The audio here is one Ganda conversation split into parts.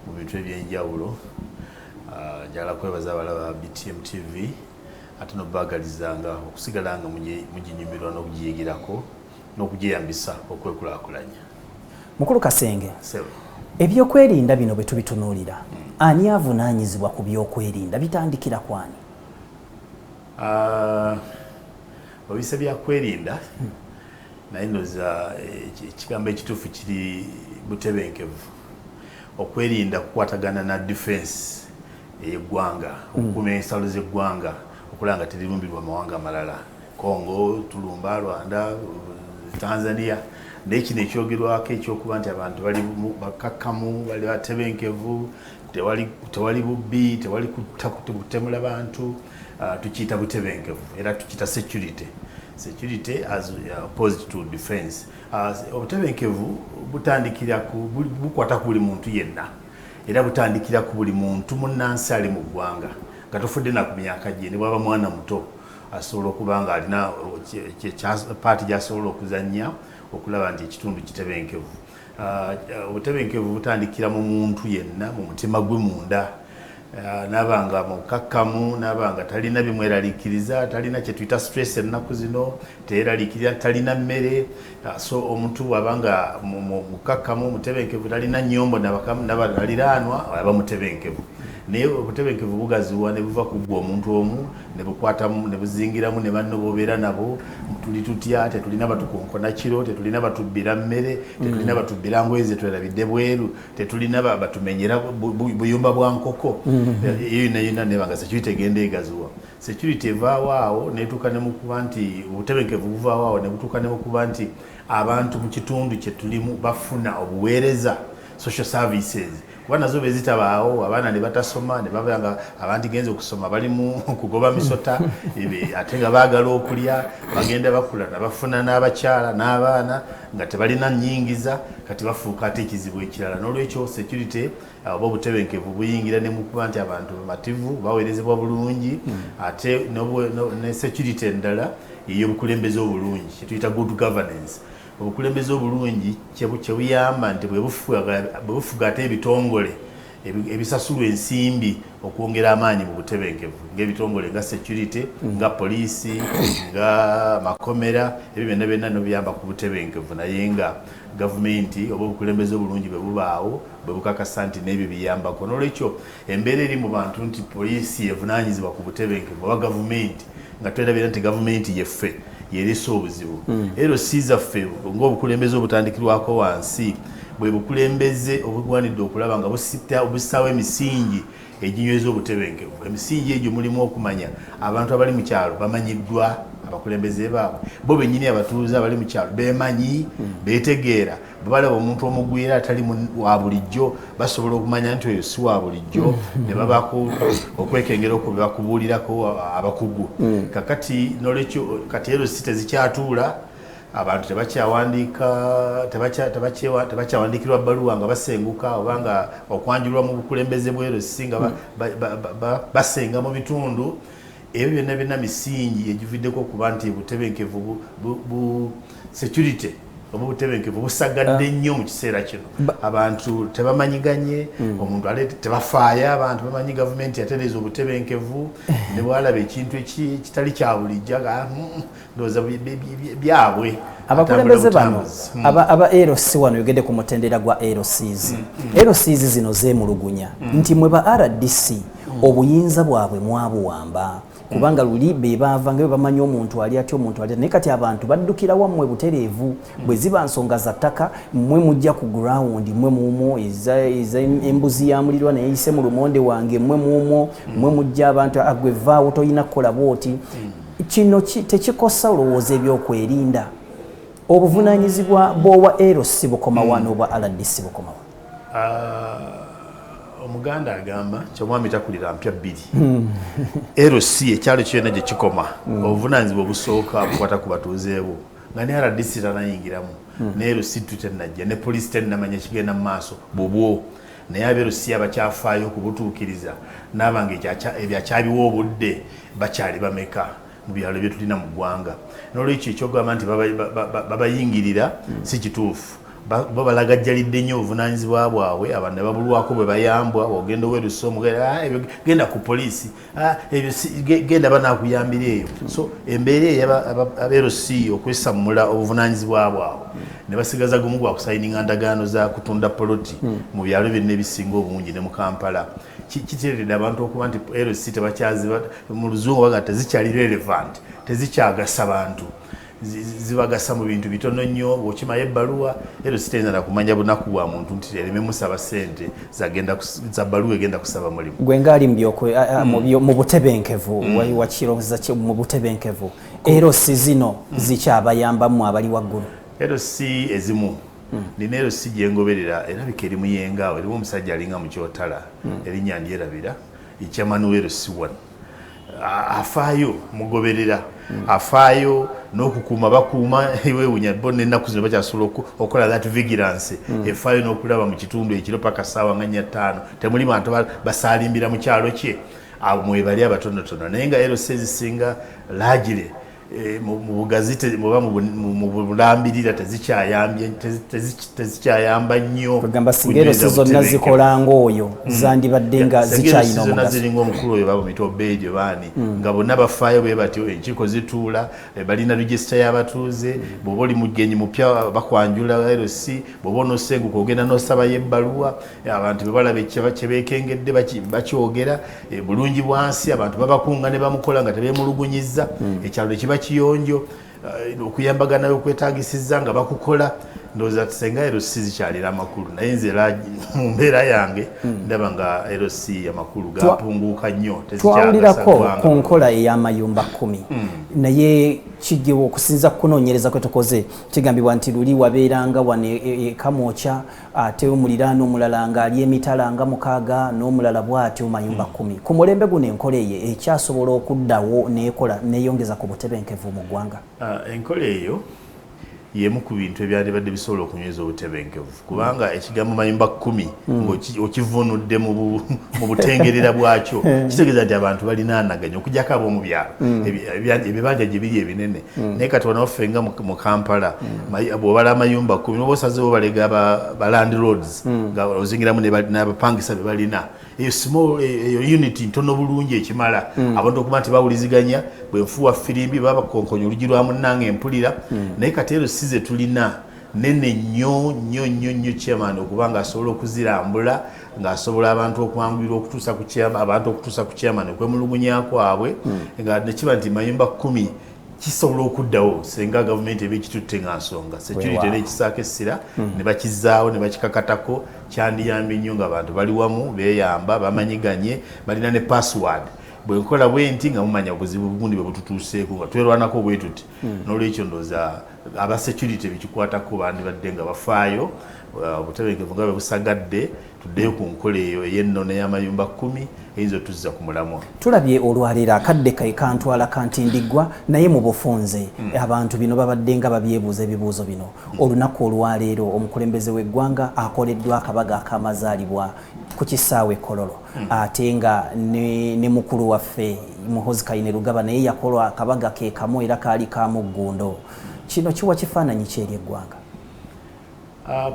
mu bintu ebyenjawulo ah, njagala kwebaza abalaba btm tv ate nobagalizanga okusigala nga muginyumirwa n'okugiyigirako n'okugyeyambisa okwekulakulanya mukulu kasenge ebyokwerinda bino bwe tubitunuulira hmm. ani avunaanyizibwa ku byokwerinda bitandikira kwani ah, obise byakwerinda hmm. naye noza eh, ekigambo ekituufu kiri butebenkevu okwerinda kukwatagana na defense eyegwanga hmm. okukuma ensalo zegwanga okulaba nga terirumbirwa amawanga amalala congo tulumba rwanda tanzania naye kino ekyogerwako ekyokuba nti abantu bali bakakkamu bali batebenkevu tewali bubbi tewali kutemula bantu ah, tukiyita butebenkevu era tukiyita security security as uh, opposed to defense uh, obutebenkevu butandikira ku bukwata ku buli muntu yenna era butandikira ku buli muntu munnansi ali mu ggwanga nga tofudde na ku myaka gye ne bwaba mwana muto asobola okuba nga alina paati gyasobola okuzannya okulaba nti ekitundu kitebenkevu Ah, ah, obutebenkevu butandikira mu muntu yenna mu mutima gwe munda ah, naba nga mukakkamu naba nga talina bimweraliikiriza talina kyetuyita stress ennaku zino teyeraliikirira talina mmere so omuntu bwaba nga mukakkamu mutebenkevu talina nyombo nabaliraanwa aba mutebenkevu naye obutebenkevu bugaziwa ne buva kuggwa omuntu omu ne bukwatamu ne buzingiramu ne banno bobeera nabo tuli tutya tetulina batukonkona kiro tetulina batubbira mmere tetulina mm. batubbira ngoye zetwerabidde bweru tetulina batumenyera buyumba bwa nkoko mm. eh, eyo yonayona neba nga security egenda egaziwa security evaawo awo netuuka ne mukuba nti obutebenkevu buvaawo awo ne butuuka ne mukuba nti abantu mu kitundu kye tulimu bafuna obuweereza social services kuba nazo be zitabaawo abaana ne batasoma ne babeera nga abandigenze okusoma bali mu kugoba misota ate nga baagala okulya bagenda bakula nabafuna n'abakyala n'abaana nga tebalina nyingiza kati bafuuka ate ekizibu ekirala n'olwekyo security uh, oba obutebenkevu buyingira ne mu kuba nti abantu bamativu baweerezebwa bulungi hmm. ate ne security endala ey'obukulembeze obulungi kyetuyita good governance Obukulembeze obulungi kyebuyamba nti bwebufuga ate ebitongole ebisasulwa ensimbi okwongera amaanyi mu butebenkevu ngaebitongole nga security mm. nga poliisi nga makomera ebyo byonna byonna nobiyamba ku butebenkevu naye nga gavumenti oba obukulembeze obulungi bwe bubaawo bwe bukakasa nti n'ebyo biyambako n'olwekyo embeera eri mu bantu nti poliisi evunaanyizibwa ku butebenkevu oba gavumenti nga twerabira nti gavumenti yeffe yerese obuzibu mm. ero si zaffe ngaobukulembeze obutandikirwako wansi bwe bukulembeze obugwanidde okulaba nga busita obussawo emisingi eginyweza obutebenkevu emisingi egyo mulimu okumanya abantu abali mu kyalo bamanyiddwa abakulembeze baabwe bo bennyini abatuuze abali mu kyalo bemanyi mm. betegeera bwe balaba omuntu omugwira atali wa bulijjo basobola okumanya nti oyo si wa bulijjo mm. ne babaku okwekengera okwo bebakubuulirako abakugu mm. kakati nolwekyo kati erosi tezikyatuula abantu tebakyawandiika tebakyawandiikirwa bbaluwa nga basenguka oba nga okwanjulwa mu bukulembeze bwerosi nga mm. basenga mu bitundu Ebyo byonna birina misingi egividdeko okuba nti obutebenkevu bu, bu, bu security oba obutebenkevu busagadde ah. nnyo mu kiseera kino abantu tebamanyiganye hmm. omuntu ale tebafaaya abantu bamanyi gavumenti yatereeza obutebenkevu ne bwalaba ekintu ekitali kya bulijjo ah, hmm, ndowooza byabwe abakulembeze bano hmm. aba lc wano yogedde ku mutendera gwa lcs hmm, hmm. lcs zino zemulugunya nti mwe ba rdc obuyinza bwabwe mwabuwamba kubanga luli bebaava nga bebamanyi omuntu ali atya omuntu ali naye kati abantu baddukira wammwe butereevu bwe ziba nsonga za ttaka mmwe mujja ku gurawundi mmwe muumwo eza embuzi ya mulirwa naye yise mu lumonde wange mmwe muumwo mmwe mujja abantu agwe vaawo tolina kukola bwoti Kino tekikosa olowooza ebyokwerinda obuvunanyizibwa bwowa LC bukoma wano hmm. obwa LDC bukoma wano? Ah, omuganda agamba kyomwami takulira mpya bbiri hmm. LC ekyalo kyona gye kikoma hmm. obuvunanyizibwa obusooka bukwata ku batuuzeebwo nga ne LDC tanayingiramu ne LC tutenajja ne poliisi tenamanya kigenda mu maaso bubwo naye aberusiya bakyafaayo okubutuukiriza naaba nga ebyo akyabiwa obudde bakyali bameka mu byalo byetulina mu ggwanga n'olwekyo ekyogamba nti babayingirira hmm. si kituufu bo balagajjalidde nnyo obuvunaanyizibwa bwabwe abantu ne babulwako bwe bayambwa ogenda owerusa omugenda ah, ku poliisi Ah, ebyo genda banakuyambira eyo so embeera eyo aberc okwesammula obuvunanyizibwa bwabwe ne basigaza gumu gwa kusayininga ndagaano za kutunda poloti hmm. mu byalo byonna ebisinga obungi ne mu kampala kiteredde abantu okuba nti erc tebakyaziba mu luzungu baga tezikyali relevant tezikyagasa bantu zibagasa mu bintu bitono nnyo bwokimayo ebbaluwa ero sitayinza nakumanya bunaku bwa muntu nti ereme musaba sente za baluwa egenda kusaba mulimu gwe ngaali hmm. mu butebenkevu hmm. wakirowooza mu butebenkevu ero si zino hmm. zikyabayambamu abali waggulu ero si ezimu nina ero si gyengoberera erabika eri muyengawo eriwo omusajja alinga mukyotala erinya ndyerabira ekyamanuwa ero si wano afaayo mugoberera afaayo n'okukuuma bakuuma ewewunya bo nenaku zino bakyasobola okukola that vigilance hmm. efaayo n'okulaba mu kitundu ekiro paka saawa nga nya ttaano temuli bantu basaalimbira mu kyalo kye mwebali abatonotono naye nga ero sezisinga lagire Eh, mu bugazi oba mu bulambirira tezikyayamba nnyo kwegamba singa ero sizonna zikola ngaoyo hmm. zandibadde nga zikyayinazona ziringa omukulu oyo baba mitoba egyo baani hmm. nga bonna bafaayo be batyo enkiiko zituula eh, balina regisita y'abatuuze hmm. bwoba oli mugenyi mupya bakwanjula rc bwoba onosenguka ogenda nosabayo ebbaluwa eh, abantu bebalaba kyebeekengedde bakyogera E, bulungi bwansi abantu babakunga ne bamukola nga tebemulugunyizza hmm. ekyalo tekiba kiyonjo e, okuyambagana okwetagisiza nga bakukola ndowooza tusenga rc zikyalira amakulu naye nze era mu mbeera yange hmm. ndaba nga rc amakulu gapunguuka nnyo twawulirako ku nkola ey'amayumba kumi hmm. naye kigewa okusinza kukunoonyereza kwe tukoze kigambibwa nti luli wabeeranga wano e, e, e kamwokya ate omuliraano omulala ng'ali emitala nga mukaaga n'omulala bw'atyo mayumba kkumi ku mulembe guno enkola eyo ekyasobola okuddawo n'ekola n'eyongeza ku butebenkevu mu ggwanga ah, enkola eyo yemu ku bintu ebyalibadde bisobola okunyweza obutebenkevu kubanga ekigambo mayumba kkumi hmm. ngaokivunudde mu butengerera bwakyo eh. kitegeeza nti abantu balinaanaganya okujako ab'omu byalo hmm. ebibanja gye biri ebinene Mm. naye kati wano waffe nga mu kampala mm. bwobala amayumba kumi oba osazewo balega balandiloads mm. nga ozingiramu nabapangisa bebalina eyo small e, eyo unit ntono bulungi ekimala abantu okuba nti bawuliziganya bwenfuwa firimbi babakonkonya olugi lwa munanga empulira naye kati ero size tulina nene nnyo nnyo nnyo nnyo chairman okuba nga asobola okuzirambula ng'asobola abantu okwanguyirwa okutuusa ku kyama abantu okutuusa ku kyama ne kwemulugunya kwabwe hmm. nga nekiba nti mayumba kkumi kisobola okuddawo senga gavumenti eba ekitutte nga nsonga security nekisaako essira hmm. ne bakizaawo ne bakikakatako kyandiyambye nnyo nga abantu bali wamu beyamba bamanyiganye balina ne password bwenkola bwenti nga mumanya obuzibu bugundi bwebututuuseeko nga twerwanako bwetuti hmm. nolwekyo ndoza aba security bikikwatako bandibadde nga bafaayo uh, obutebenkevu nga bwebusagadde tuddeyo ku nkola eyo eyennono eyamayumba kumi eyinza otuzza ku mulamwa tulabye olwaleero akadde kai kantwala kantindiggwa naye mu bufunze hmm. abantu bino babadde nga babyebuuza ebibuuzo bino hmm. olunaku olwaleero omukulembeze w'eggwanga akoleddwa akabaga akamazaalibwa ku kisaawe kololo Hmm. ate nga ne, ne mukulu waffe muhozi kaine lugaba naye yakolwa akabaga ke kamu era kaali ka muggundo kino kiwa kifaananyi ki eri eggwanga ah,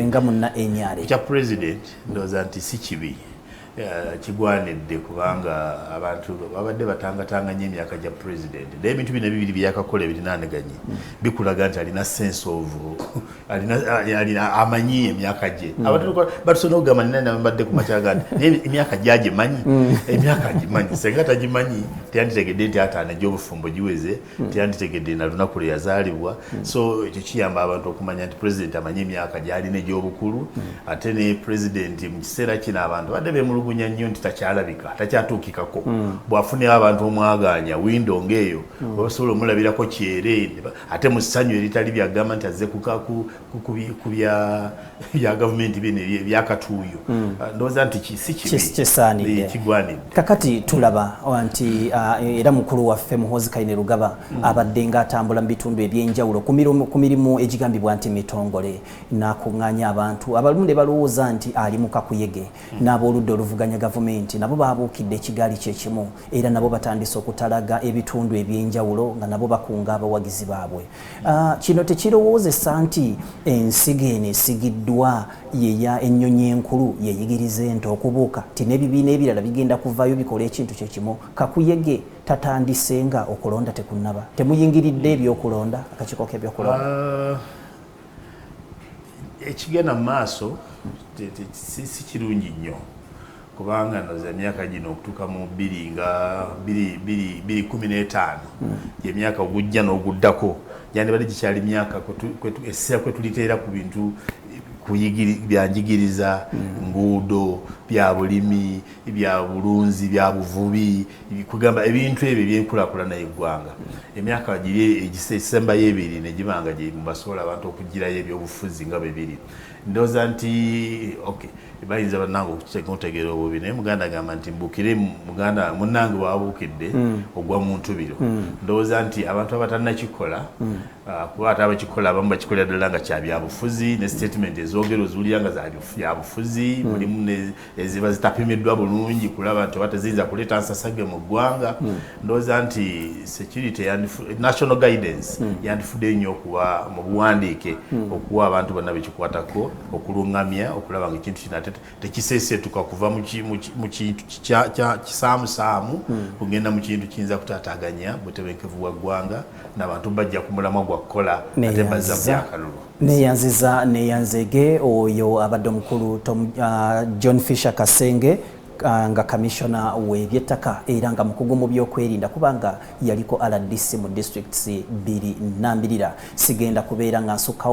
nga munna enyare kya president ndowooza nti si kibi eh, kigwanidde kubanga abantu babadde batangatanga nyo emyaka gya president naye ebintu bino ebibiri byeyakakola ebirinaaneganye hmm. bikulaga nti alina sense of alina amanyi emyaka gye mm. abatbatsobola okugamba nina nambadde ku makyaga nti naye emyaka gye agimanyi mm. emyaka agimanyi senga tagimanyi teyanditegedde nti ataano egy'obufumbo giweze mm. teyanditegedde na lunaku lwe yazaalibwa so ekyo kiyamba abantu okumanya nti pulezidenti amanyi emyaka gyalina egy'obukulu ate ne pulezidenti mu kiseera kino abantu badde bemulugunya nnyo nti takyalabika takyatuukikako bwafunira abantu omwagaanya windo ngaeyo babasobola omulabirako kyere ate mu ssanyu eritali byagamba nti azze ku bya gavumenti bino ebyakatuuyo hmm. ah, ndowooza nti sikigwanidde kakati tulaba ah, nti ah, era mukulu waffe muhoozi kaine lugaba hmm. abadde nga atambula mu bitundu ebyenjawulo ku mirimu egigambibwa nti mitongole nakunganya abantu abalumu ne balowooza nti ali mu kakuyege hmm. n'abooludda oluvuganya gavumenti nabo baabuukidde ekigaali kyekimu era nabo batandise okutalaga ebitundu ebyenjawulo nga nabo bakunga abawagizi baabwe ah, kino tekirowoozesa nti ensiga eno esigiddwa yeya ennyonyi enkulu yeyigiriza ente okubuuka ti n'ebibiina ebirala bigenda kuvayo bikola ekintu kyekimu kakuyege tatandise nga okulonda tekunnaba temuyingiridde ebyokulonda akakiiko k'ebyokulonda ah, ekigenda mu maaso si kirungi nnyo kubanga noza emyaka gino okutuuka mu bbiri nga bbiri kumi n'etaano gyemyaka hmm. ogujja n'oguddako gyandibadde gikyali myaka essira kwe tuliteera ku bintu byanjigiriza hmm. nguudo bya bulimi bya bulunzi bya buvubi kugamba ebintu ebyo ebyenkulakulana yeggwanga emyaka giri egisembayo ebiri negibanga gyemubasobola abantu okugirayo ebyobufuzi nga bebiri ndoza nti ok bayinza banange okutegeera obubi naye muganda agamba nti mbukire muganda munange wabuukidde hmm. ogwa muntu biro hmm. ndowooza nti abantu abatanakikola hmm. ah, kuba ate abakikola abamu bakikolera ddala nga kyabyabufuzi ne statement ezoogero oziwulira nga zabyabufuzi mulimu eziba zitapimiddwa bulungi kulaba nti oba teziyinza kuleeta nsasage mu ggwanga hmm. ndowooza nti security national guidance hmm. yandifudde nnyo okuwa mu buwandiike hmm. okuwa abantu bonna bekikwatako okulungamya okulaba nga ekintu kino ate tekiseeseetuka kuva mu kintu kisaamusaamu kugenda mu kintu kiyinza kutaataganya butebenkevu bwa ggwanga nabantu bajja ku mulamwa gwa kukola ate bazza byakalulu neyanziza neyanzege oyo abadde omukulu uh, john fisher kasenge uh, nga kamishona webyettaka era nga mukugu mu byokwerinda kubanga yaliko rdc mu districts biri nambirira sigenda kubeera nga nsukkawo